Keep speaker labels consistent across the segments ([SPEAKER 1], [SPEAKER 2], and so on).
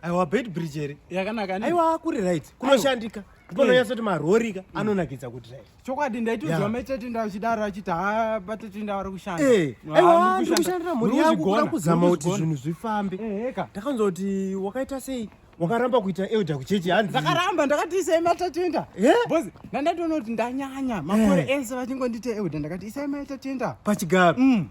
[SPEAKER 1] aiwa bed bridge here yakanaka aiwa kuri
[SPEAKER 2] right
[SPEAKER 1] kunoshandika ndipononyatsa kuti marori ka mm. anonakidza kuti right chokwadi ndaitozwa
[SPEAKER 2] mechetinda achidaro achiti ha patetinda vari kushanda eh, aiwa ndiri
[SPEAKER 1] kushandira mhuri yangu kuda kuzama kuti zvinhu zvifambe eh, ndakanzwa kuti wakaita sei wakaramba kuita elder kuchechi hanzi ndakaramba ndakati isai
[SPEAKER 2] matatenda eh? bos ndandatoona kuti ndanyanya makore ese vachingonditi elder ndakati isai matatenda pachigaro mm.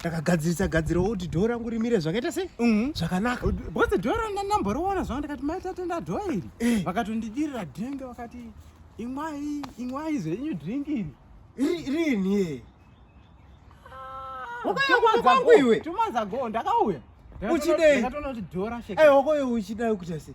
[SPEAKER 1] ndakagadzirisa gadzira kuti dhoo rangu rimire zvakaita sei mhm. zvakanaka bcause dhoo rangu
[SPEAKER 2] ndandamboriona zvavo ndikati mai tatenda dhoo iri eh. vakatondidirira drink vakati imwai imwai zvenyu drink iri rini
[SPEAKER 1] wakayakwangu ah, iwe tumazago
[SPEAKER 2] ndakauya uchidei aiwakoyo uchidai kuita
[SPEAKER 1] sei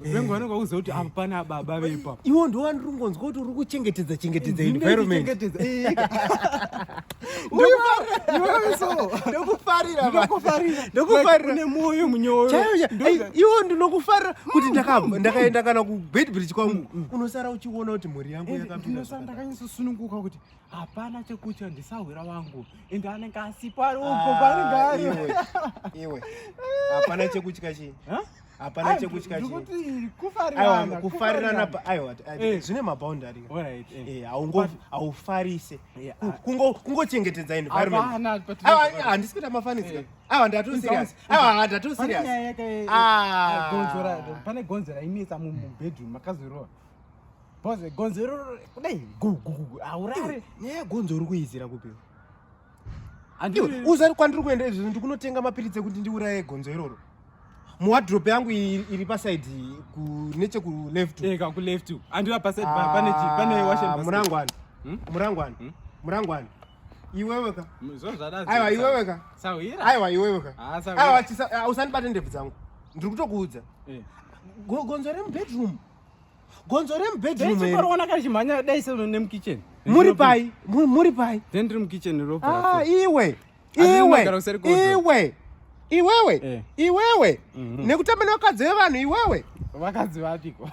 [SPEAKER 2] vengu vanenge vakuziva kuti apa pana baba vepa iwo ndo wandiri kungonzwa
[SPEAKER 1] kuti uri kuchengetedza chengetedza environment ndokufariraune mwoyo
[SPEAKER 2] munyoiwo
[SPEAKER 1] ndinokufarira kuti mm, mm, mm. ndakaenda kana kubedbridge kwangu unosara uchiona kuti mhuri yangu eh, yakapindanosara ndakanyasosununguka kuti
[SPEAKER 2] hapana chekutya ndisahwira wangu ende anenge asipo ari ugo ah, paanenge ari iwe
[SPEAKER 1] hapana chekutya chii hapana chekutya kufarirana eh. zvine maboundary eh. eh, haufarise kungochengetedza environmenthandisi kuita mafanidzika awa ndatoserious awa ndatoserious
[SPEAKER 2] pane gonzo rainetsa mubedroom makazorora bhoze gonzo iroro kudai gugugugu aurare nyaya yegonzo uri
[SPEAKER 1] kuizira kupiwa uzari kwandiri kuenda izvi ndikunotenga mapiritsi ekuti ndiuraye gonzo iroro muwadrop yangu iri pasaid nechekuleftmurangwani
[SPEAKER 2] murangwani
[SPEAKER 1] murangwani iweweka aiwa
[SPEAKER 2] iweweka
[SPEAKER 1] aiwa iweweka usandibate ndebvu dzangu ndiri kutokuudza eh. gonzo remubedroom gonzo remubedroom here? Chiporoona kari chimhanya
[SPEAKER 2] dai sezvo nemukitchen. Muri pai?
[SPEAKER 1] Muri pai? Then tiri
[SPEAKER 2] mukitchen ropa. Ah, iwe. Iwe. Iwe.
[SPEAKER 1] Iwewe. Eh. Iwewe. Mhm. Nekutamba nevakadzi vevanhu iwewe. Vakadzi vapiko?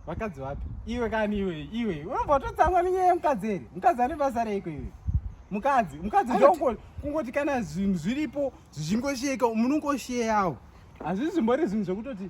[SPEAKER 2] Vakadzi vapi? Iwe kani iwe. Iwe. Unombototsamwa nenyaya yemukadzi here? Mukadzi ane basa reiko iwe? Mukadzi, mukadzi ndongo kungoti kana zvinhu zviripo zvichingosheka munongosheyawo. Hazvisi zvimbori zvinhu zvekutoti